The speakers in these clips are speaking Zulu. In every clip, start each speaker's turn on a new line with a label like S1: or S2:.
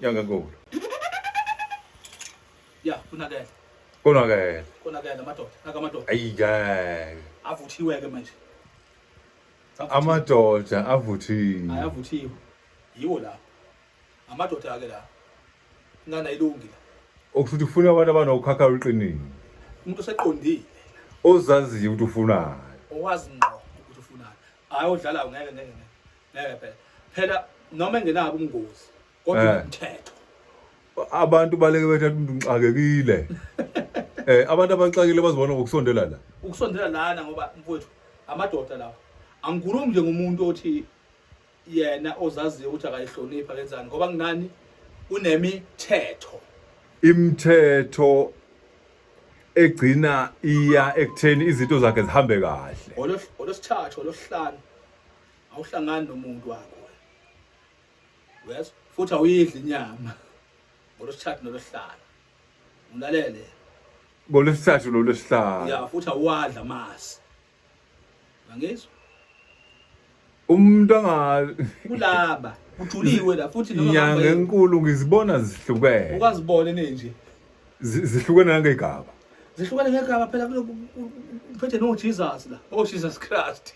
S1: yangenkulu
S2: ya kunakela konakele konakele
S1: amadoda
S2: nakamadoda ayi ngeke
S1: avuthiwe-ke
S2: manje amadoda
S1: avuthiwe ayavuthiwe
S2: yiwo la amadoda-ke la ingane ayilungi la okusho ukuthi ufuna
S1: abantu abanokhakha oluqinile umuntu
S2: oseqondile ozaziyo
S1: ukuthi ufunani owazi ngqo
S2: ukuthi ufunani hhayi odlalayo ngeke ngeke ngeke ngeke phela phela noma engenabo umngozi kodwa Eh. umthetho abantu
S1: baleke bethatha umuntu ngixakekile eh abantu abaxakile bazibona ngokusondela la ukusondela lana ngoba
S2: mfowethu amadoda lawa angikhulumi nje ngomuntu othi yena ozaziyo ukuthi akayihloniphi akenzani ngoba kunani kunemithetho
S1: imithetho egcina iya ekutheni izinto zakhe zihambe kahle Ngolo- ngolwesithathu
S2: ngolwesihlanu awuhlangani nomuntu wakho yes futhi awuyidli inyama ngolosithathu nolosihlanu ulalele
S1: ngolosithathu nolosihlanu ya futhi awadla
S2: amasi angizwa
S1: umuntu anga kulaba
S2: ujuliwe la futhi noma inyanga enkulu
S1: ngizibona zihlukene ukazibona nenje
S2: zihlukene
S1: nangegaba zihlukene ngegaba
S2: phela kuphethe no Jesus la oh Jesus Christ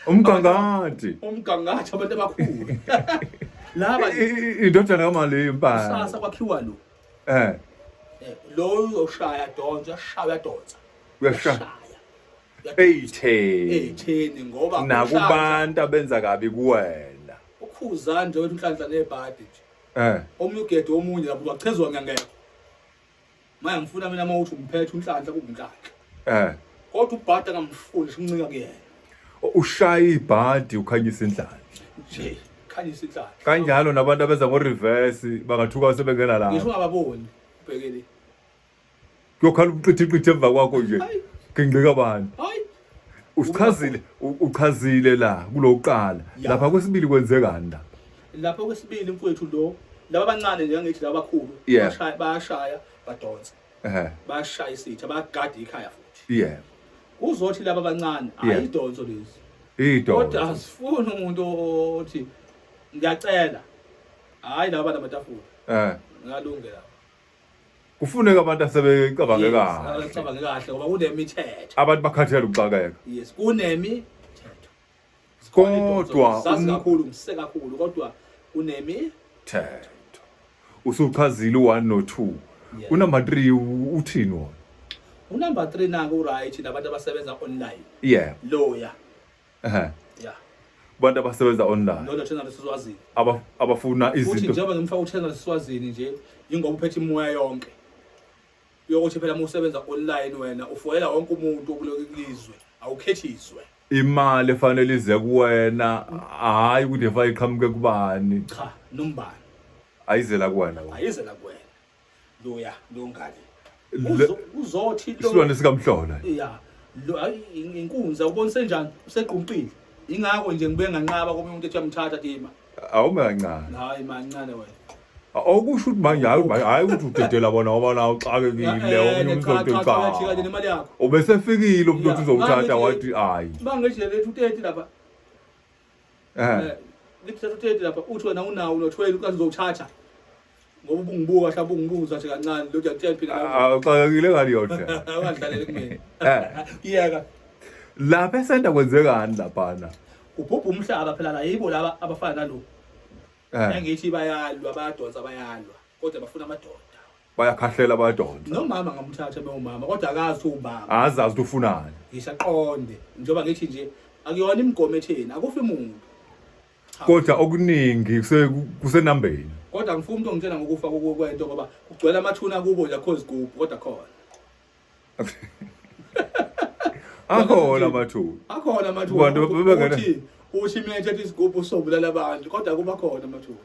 S2: umgangathi
S1: umgangathi
S2: abantu abakhulu laba indodana
S1: kamali impala sasa kwakhiwa lo
S2: eh, eh lo uyoshaya donsa uyashaya donsa uyashaya
S1: eyitheni eyitheni ngoba nakubantu
S2: abenza
S1: kabi kuwena ukhuza nje
S2: wethu inhlanhla nebhadi nje Eh. Omunye ugede omunye lapho wachezwa ngangekho. Manje ngifuna mina uma uthi umphethe unhlanhla kunhlanhla. Eh. Kodwa ubhada ngamfuni simncika kuyena. Ushaya
S1: ibhadi ukhanyisa inhlanhla. Nje
S2: khanyisa inhlanhla. Kanjalo nabantu abenza
S1: ngo reverse bangathuka sebengena lapho. Ngisho ungababoni
S2: ubhekele.
S1: kuyokhala ubuqithiqithi emva kwakho nje kingqika bani
S2: usichazile
S1: uchazile la kulokuqala lapha kwesibili kwenzekani la lapha kwesibili
S2: mfowethu lo laba abancane nje ngithi laba abakhulu bashaya bayashaya badonsa ehe bashaya isitha bagada ikhaya futhi yeah kuzothi laba abancane ayidonso lezi idonso kodwa asifuni umuntu othi ngiyacela hayi laba namatafula eh ngalungela
S1: kufuneka abantu asebecabange kahle abacabange kahle ngoba
S2: kunemithetho abantu bakhathele ukuxakeka
S1: yes kunemi kodwa sazi um- kakhulu
S2: ngise kakhulu kodwa kunemi thetho
S1: usuchazile u1 no 2 unumber 3 uthini wona unumber
S2: 3 naku right nabantu abasebenza online yeah loya
S1: ehe yeah abantu abasebenza online ndoda thina lesizwazini
S2: aba abafuna futhi
S1: izinto njengoba ngimfaka uthenga
S2: lesizwazini nje ingoba uphethe imoya yonke yokuthi phela uma usebenza online wena ufoyela wonke umuntu okulokhu kulizwe awukhethiswe imali
S1: efanele ize kuwena hayi ukuthi efa iqhamuke kubani cha nombani
S2: ayizela
S1: kuwena wena. ayizela kuwena
S2: loya longane uzothi isilwane sikamhlola ya
S1: lo
S2: hayi inkunza ubona senjani usegqumqile ingakho nje ngibe nganqaba komunye umuntu ethi amthatha tima awumancane hayi
S1: mancane
S2: wena awukusho ukuthi
S1: manje hayi hayi ukuthi udedela bona ngoba nawo uxakekile eh, omunye umuntu ozokucaka
S2: ubesefikile umuntu
S1: othi uzowuthatha wathi hayi bangeje lethu 30
S2: lapha ngithatha uthedi lapha uthi wena unawo unothwele ukazi uzowuthatha ngoba ubungibuka mhlawumbe ungibuza nje kancane lo ndiyakutshela phela awuxakekile ngani yodwa
S1: ungadlaleli kumina
S2: kuyeka lapha
S1: esenta kwenzekani laphana kubhubha umhlaba
S2: phela la yibo laba abafana nalo engithi bayalwa bayadonsa bayalwa kodwa bafuna amadoda bayakhahlela
S1: bayadonsa nomama ngamthatha
S2: bewumama kodwa akazi ukuthi ubaba azazi ukuthi ufunani
S1: ngisaqonde
S2: njengoba ngithi nje akuyona imigomo etheni akufi muntu kodwa
S1: okuningi kuse- kusenambeni kodwa ngifuna umuntu
S2: ongitshela ngokufa koku- kwento ngoba kugcwele amathuna kubo nje akho zigubhu kodwa khona
S1: akhona amathuba akhona amathuba Abantu bebengena- ukuthi
S2: uthi mina ethetha isigubhu sobulala abantu kodwa kuba khona amathuba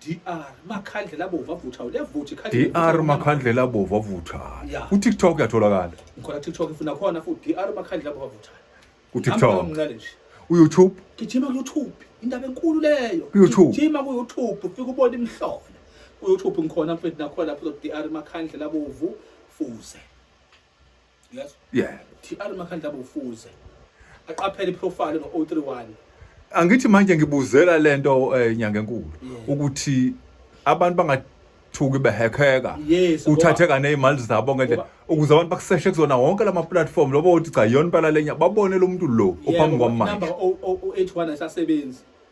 S2: DR Makhandlela Bovu avuthayo liyavutha ikhadi DR Makhandlela
S1: Bovu avuthayo Yeah. ku TikTok uyatholakala ngikhona TikTok ngifuna
S2: khona futhi DR Makhandlela Bovu avuthayo ku Hamba TikTok omncane
S1: nje u YouTube gijima ku YouTube
S2: indaba enkulu leyo YouTube. gijima ku
S1: YouTube
S2: ufike ubone imihlola ku YouTube ngikhona mfethu nakhona lapho DR Makhandlela Bovu fuze Yes. Yeah. TR Makhandla bofuze. Aqaphele iprofile ngo 031. Angithi
S1: manje ngibuzela lento eh, nyanga enkulu ukuthi abantu bangathuki behekheka Yes, uthatheka nezimali zabo ngedlela Ngoba- ukuze abantu bakuseshe kuzona wonke lama platform lobo uthi cha yona impala lenya babone lo muntu lo ophambi kwami manje
S2: Number 081 asasebenzi.